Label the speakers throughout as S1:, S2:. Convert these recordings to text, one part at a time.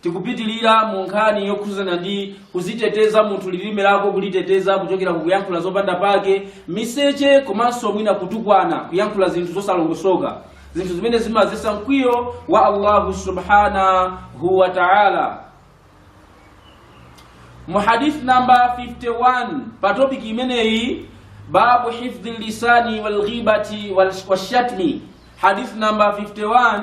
S1: tikupitilira mu nkhani yokhuzana ndi kuziteteza munthu lilime lako kuliteteza kuchokera ku kuyankhula zopanda pake miseche komanso mwina kutukwana kuyankhula zinthu zosalongosoka zinthu zimene zimazesa mkwiyo wa allahu subhanahu wa taala mu hadith namba 51 pa topiki imeneyi babu hifdhi lisani walghibati washatmi hadith namba 51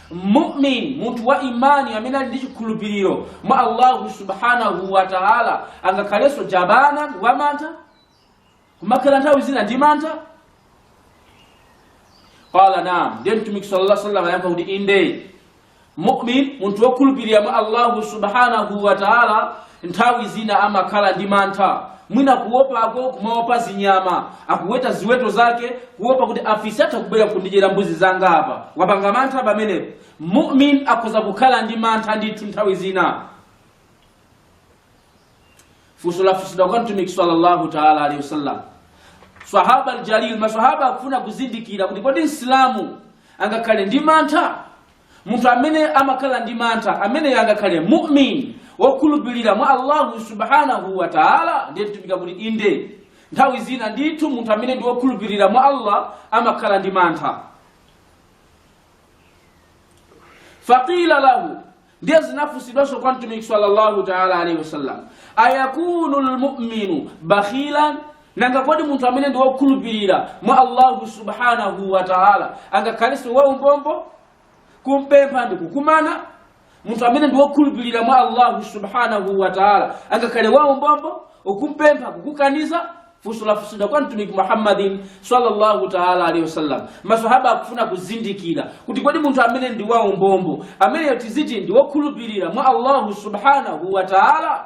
S1: mumin munthu wa imani amene ali ndi chikhulupiriro mwa allahu subhanahu wa taala angakhalenso jabana wa mantha kumakhala nthawi zina ndi mantha qala naam ndiye mtumiki sallallahu alaihi wasallam ayankha kuti inde mumin munthu wokhulupirira mwa allahu subhanahu wa taala Nthawi zina amakhala ndi mantha, mwina kuopako kumaopa zinyama. Akuweta ziweto zake kuopa kuti afisi atha kubwera nkundidyera mbuzi zanga apa. Wapanga mantha pamenepo. Mu'min akhoza kukhala ndi mantha ndithu nthawi zina. Funso lafunsidwa kwa Mtumiki sallallahu taala alaihi wasallam. Swahaba al-Jalil, maswahaba akufuna kuzindikira kuti kodi Msilamu angakhale ndi mantha? munthu amene amakhala ndi mantha ameneyo angakhale mumin wokhulupirira mwa allahu subhanahu wa taala ndiye mtumiki akuti inde nthawi zina ndithu munthu amene ndi wokhulupirira mwa allah amakhala ndi mantha faqila lahu ndiye zinafunsidwanso kwa mtumiki sallallahu taala alaihi wasallam ayakunu lmuminu bakhilan nanga kodi munthu amene ndi wokhulupirira mwa allahu subhanahu wa taala angakhalenso waumbombo kumpempha ndi kukumana munthu amene ndi wokhulupirira mwa allahu subhanahu wa taala angakhale waumbombo ukumpempha kukukaniza funso lafunsidwa kwa mtumiki muhammadin sallallahu taala alaihi wasallam masahaba akufuna kuzindikira kuti kodi munthu amene ndi waumbombo ameneyo tiziti ndi wokhulupirira mwa allahu subhanahu wa taala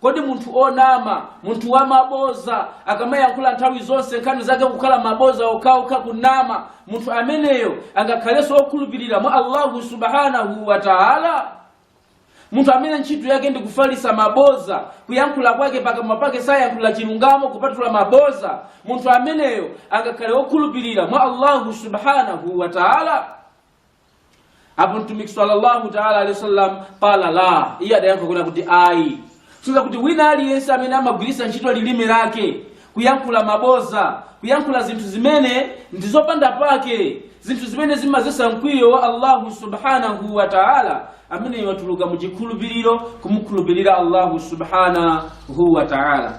S1: Kodi munthu onama, munthu wa maboza, akamayankhula nthawi zonse nkhani zake kukhala maboza okhaokha kunama, munthu ameneyo angakhalenso okhulupirira mwa Allahu subhanahu wa ta'ala? Munthu amene ntchito yake ndi kufalisa maboza, kuyankhula kwake pakamwa pake sayankhula chilungamo kupatula maboza, munthu ameneyo angakhale okhulupirira mwa Allahu subhanahu wa ta'ala? apo mtumiki sallallahu taala alehi wasallam qala la iye adayankha kunena kuti ayi kusonyeza kuti wina aliyense amene amagwiritsa ntchito lilime lake kuyankhula maboza kuyankhula zinthu zimene ndi zopanda pake zinthu zimene zimazesa mkwiyo wa allahu subhanahu wa taala ameneyo watuluka mu chikhulupiriro kumukhulupirira allahu subhanahu wa taala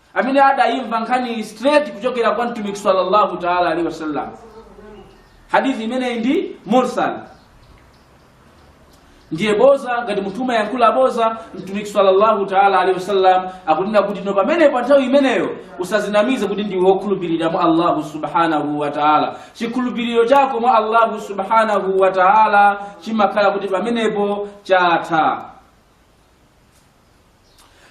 S1: amene adayimva nkhani straight kuchokera kwa mtumiki sallallahu taala alaihi wasallam hadithi imeneyi ndi mursal ndiye boza ngati munthu umayankhula boza mtumiki sallallahu taala alaihi wasallam akunena kuti no pamene pa nthawi imeneyo usazinamize kuti ndiwe wokhulupirira mwa allahu subhanahu wa taala chikhulupiriro chako mwa allahu subhanahu wa taala chimakhala kuti pamenepo chatha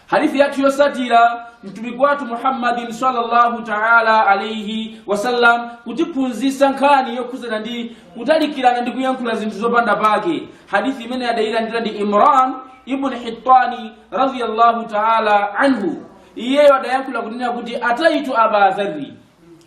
S1: hadithi yathu yosatira mtumiki wathu muhammadin sallallahu taala alaihi wasallam kutiphunzisa nkhani yokhuzana ndi kutalikirana ndi kuyankhula zinthu zopanda pake hadithi imene adayilandira ndi imran ibn hitani radiyallahu taala anhu iyeyo adayankhula kunena kuti ataitu aba dharri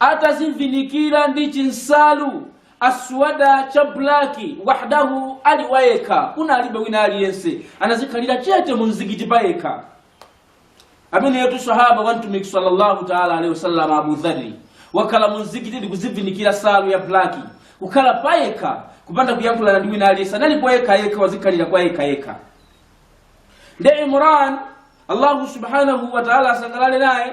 S1: atazivinikira ndi chinsalu aswada cha blaki wahdahu ali wayekha kunalibe wina aliyense anazikhalira chete mu mzikiti payekha ameneyotu sahaba wa mtumiki sallallahu taala alaihi wasallam abu dhari wakhala mu mzikiti ndi kuzivinikira nsalu ya blaki kukhala payekha kupanda kuyankhulana ndi wina aliyense anali kwayekha yekha wazikhalira kwayekha yekha ndiye imran allahu subhanahu wa taala asangalale naye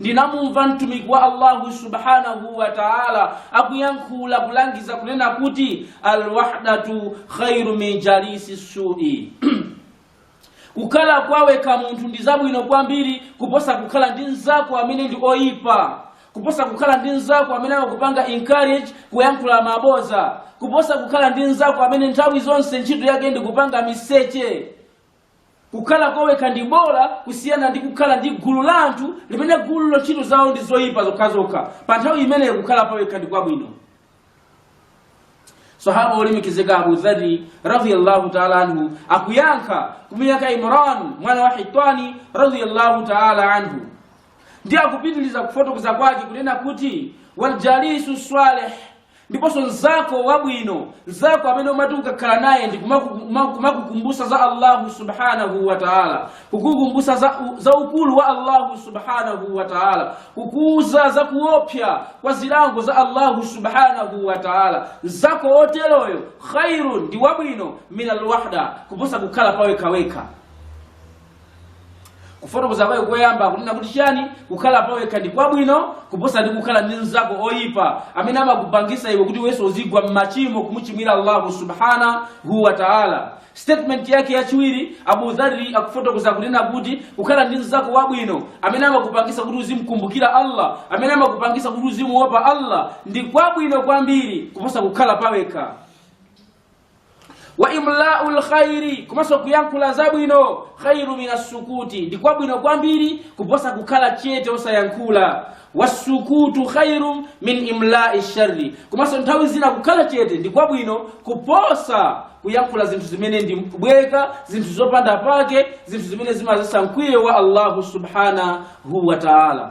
S1: ndinamumva mtumiki wa allahu subhanahu wa taala akuyankhula kulangiza kunena kuti alwahdatu khairu min jalisi sui kukhala kwawekha munthu ndi zabwino kwambiri kuposa kukhala ndi mnzako amene ndi oyipa kuposa kukhala ndi mnzako amene akupanga encourage kuyankhula maboza kuposa kukhala ndi mnzako amene nthawi zonse ntchito yake ndi kupanga miseche kukhala kwawekha ndi bola kusiyana ndi kukhala ndi gulu la anthu limene gululo ntchito zawo ndi zoyipa zokhazokha pa nthawi imeneyo kukhala pawekha ndi kwabwino sahaba wolemekezeka abu dhari radiyallahu taala anhu akuyankha kumuyankha imran mwana wa hitani radiyallahu taala anhu ndiye akupitiliza kufotokoza kwake kunena kuti waljalisu saleh ndiponso mzako wabwino mzako amene umati ukakhala naye ndi kumakukumbutsa za allahu subhanahu wa taala kukukumbutsa za ukulu wa allahu subhanahu wa taala kukuuza za kuopsa kwa zilango za allahu subhanahu wa taala mzako oteroyo khairun ndi wabwino min alwahda kuposa kukhala pawekhawekha kufotokoza kwawo koyamba kunena kuti chani kukhala pawekha ndi kwabwino kuposa ndi kukhala ndi mnzako oyipa amene amakupangisa iwe kuti iwenso uzigwa m'machimo kumuchimwira allahu subhanahu wa taala statement yake yachiwiri abu dhari akufotokoza kunena kuti kukhala ndi mnzako wabwino amene amakupangisa kuti uzimkumbukira allah amene amakupangisa kuti uzimuopa allah ndi kwabwino kwambiri kuposa kukhala pawekha wa imlau lkhairi komanso kuyankhula zabwino khairu min assukuti ndi kwabwino kwambiri kuposa kukhala chete osayankhula wassukutu khairu min imlai sharri komanso nthawi zina kukhala chete ndi kwabwino kuposa kuyankhula zinthu zimene ndi mbweka zinthu zopanda pake zinthu zimene zimadzetsa mkwiyo wa allahu subhanahu wa taala